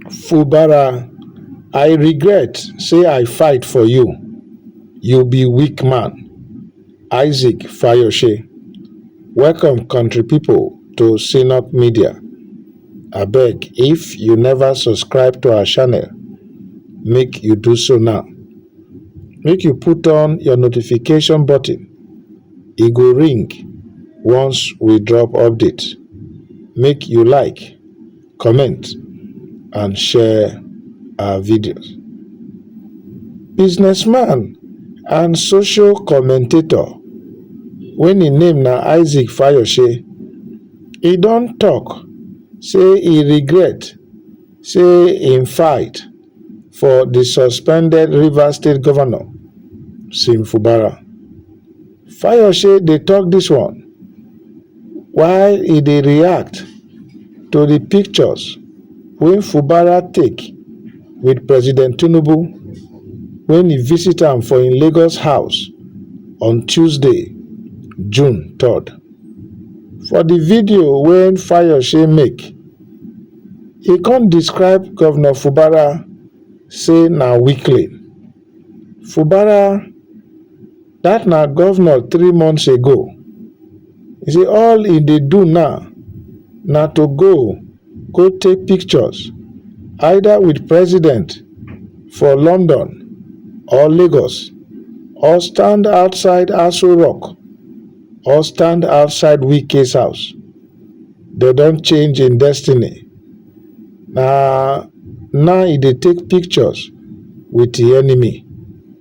fubara i regret say i fight for you you be weak man isaac fayose welcome country pipu to cnop media abeg if you never subscribe to our channel make you do so now make you put on your notification button e go ring once we drop update make you like comment and share our videos. Businessman and social commentator wey im name na Isaac Fayose, e don talk say e regret say im fight for the suspended Rivers State Governor Sim Fubara. Fayose dey tok dis one while e dey react to di pictures wey Fubara take wit President Tinubu wen e visit am for im Lagos house on Tuesday, June three. For di video wey Fayose make, e come describe Govnor Fubara say na weakling. Fubara. That na governor three months ago. He say all he dey do now na to go go take pictures either with president for London or Lagos or stand outside Aso Rock or stand outside Wike's house. They don change in destiny. Na now he dey take pictures with the enemy.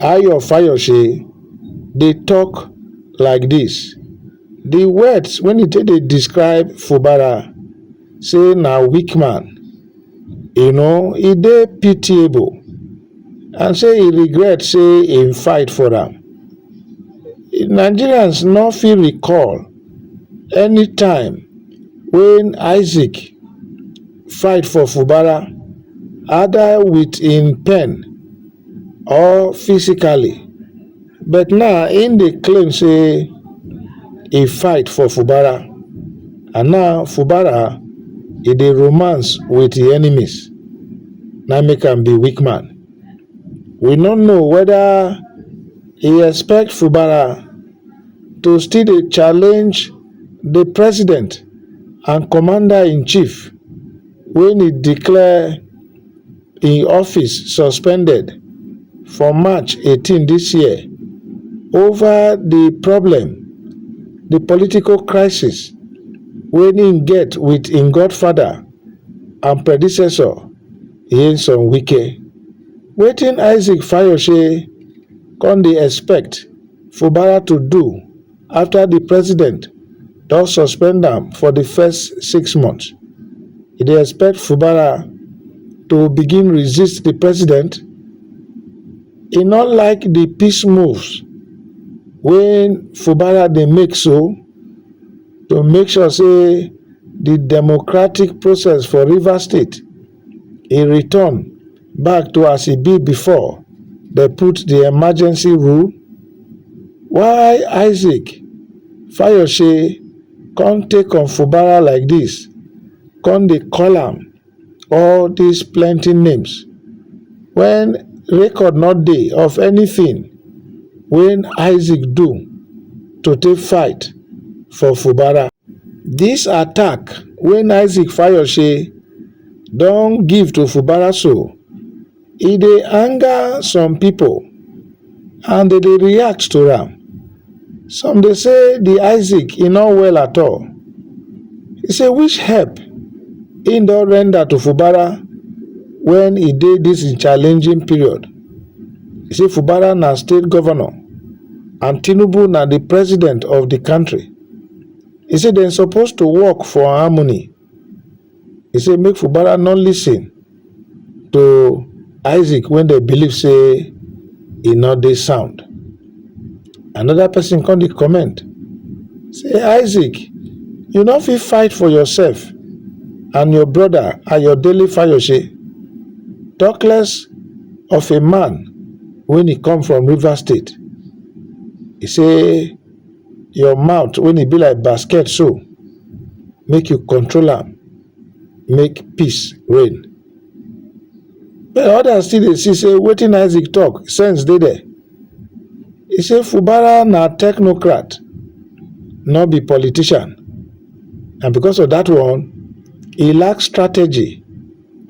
Ayo Fayose dey tok like dis, di words wey e take dey describe Fubara say na weak man, you know, e dey pitiable and say e regret say e fight for am. Nigerians no fit recall any time wey Isaac fight for Fubara, either wit im pen, or physically but now im dey claim say e fight for fubara and now fubara e dey romance wit im enemies na im make am be weak man we no know weda e expect fubara to still dey challenge di president and commander-in-chief wey e declare im office suspended for march 18 dis year ova di problem di political crisis wey im get wit im godfather and predecessor nyesom wike wetin isaac fayose come dey expect fubara to do after di president don suspend am for di first six months e dey expect fubara to begin resist di president e no like di peace moves wey fubara dey make so to make sure say di democratic process for rivers state e return back to as e be before dem put the emergency rule why isaac fayose con take on fubara like this con dey call am all this plenty names when record no dey of anything wey isaac do to take fight for fubara dis attack wey isaac fayose don give to fubara so e dey anger some pipo and dem dey react to am some dey say di isaac e no well at all e say which help e don render to fubara wen e dey dis im challenging period e say fubara na state govnor and tinubu na di president of di kontri. e say dem suppose to work for harmony e say make fubara no lis ten to isaac wey dem believe say e no dey sound another person come dey comment say isaac you no fit fight for yourself and your brother ayodele fayose talk less of a man wey e come from rivers state e say your mouth when e be like basket so make you control am make peace reign but others still dey see say wetin isaac talk sense dey there he say fubara na technocrat no be politician and because of that one he lack strategy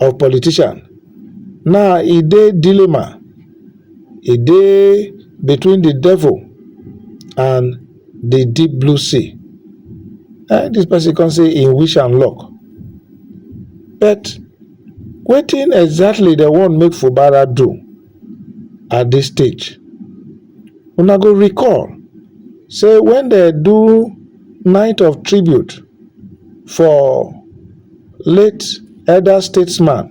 of politician now e dey dilemma e dey between the devil and the deep blue sea eh this person come say im wish am luck but wetin exactly dem wan make fubara do at this stage una go recall say when dem do night of tribute for late elder statesman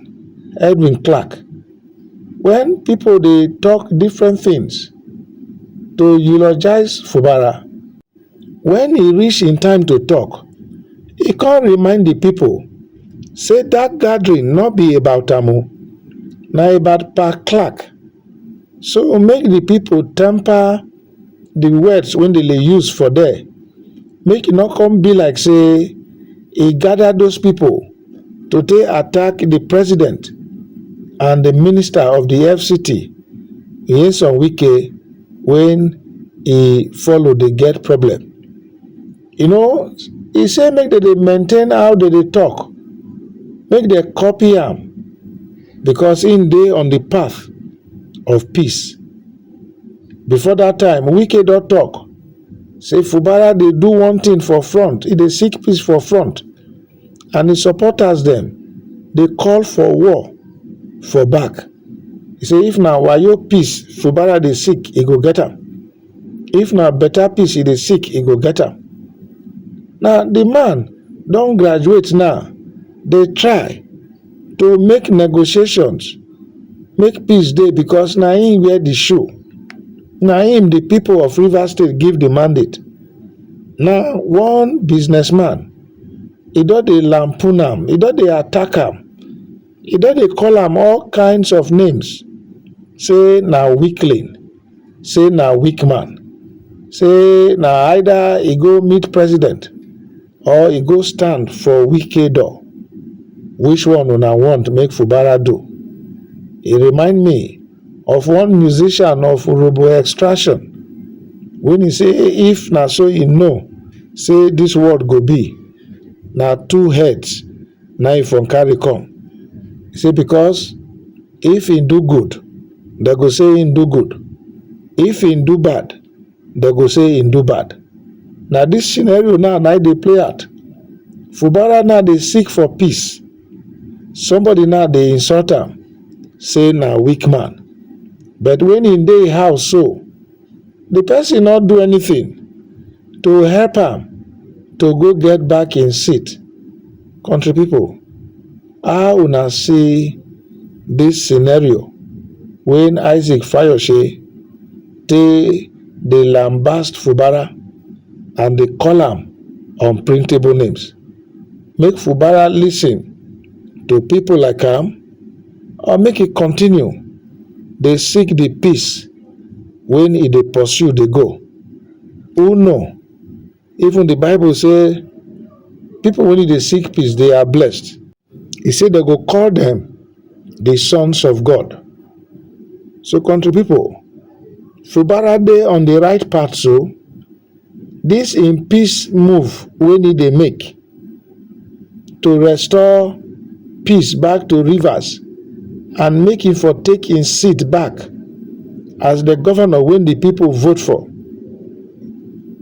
edwin clark when people dey talk different things to eulogize fubara when e reach him time to talk e con remind the people say that gathering no be about am o na about pa clark so make the people temper the words wey dem dey use for there make e no come be like say e gather those people to take attack the president and the minister of the FCT, Nyesom Wike, when he follow dey get problem. You know, he say make dem dey maintain how dem dey talk, make dem copy am because im dey on the path of peace. Before that time, Wike don talk say Fubara dey do one thing for front, e dey seek peace for front and his supporters dem dey call for war for back. He say if na wayo peace Fubara dey seek, e go get am. If na better peace e dey seek, e go get am. Now the man don graduate now, dey try to make negotiations make peace dey because na im wear di shoe na im di pipo of rivers state give di mandate now one businessman e don dey lampoon am e don dey attack am e don dey call am all kinds of names say na weakling say na weak man say na either e go meet president or e go stand for wike door which one una want make fubara do e remind me of one musician of urobo extraction wey he say if na so e know say this world go be na two heads na e from carry come e say because if he do good they go say he do good if he do bad dem go say im do bad. Na this scenario now na im dey play out. Fubara now dey seek for peace. Somebody now dey insult am say na weak man. But when he dey house so, the person not do anything to help am to go get back in seat. Country people, how una see this scenario when Isaac Fayoshe tey dey lambast fubara and dey call am unprintable names make fubara listen to people like am or make e continue dey seek the peace wey e dey pursue dey go who know Even the Bible say people when they seek peace, they are blessed. He said they go call them the sons of God. So country people, Fubara dey on the right path so this in peace move we need they make to restore peace back to Rivers and make him for take him seat back as the governor when the people vote for.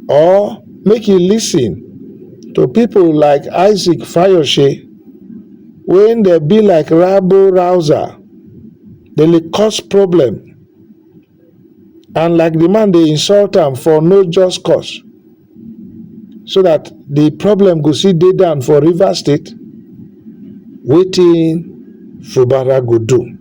Or make he listen to people like Isaac Fayoshe when they be like Rabo Rouser, they cause problem and like the man dey insult am for no just cause so that the problem go see dey down for Rivers State wetin Fubara go do.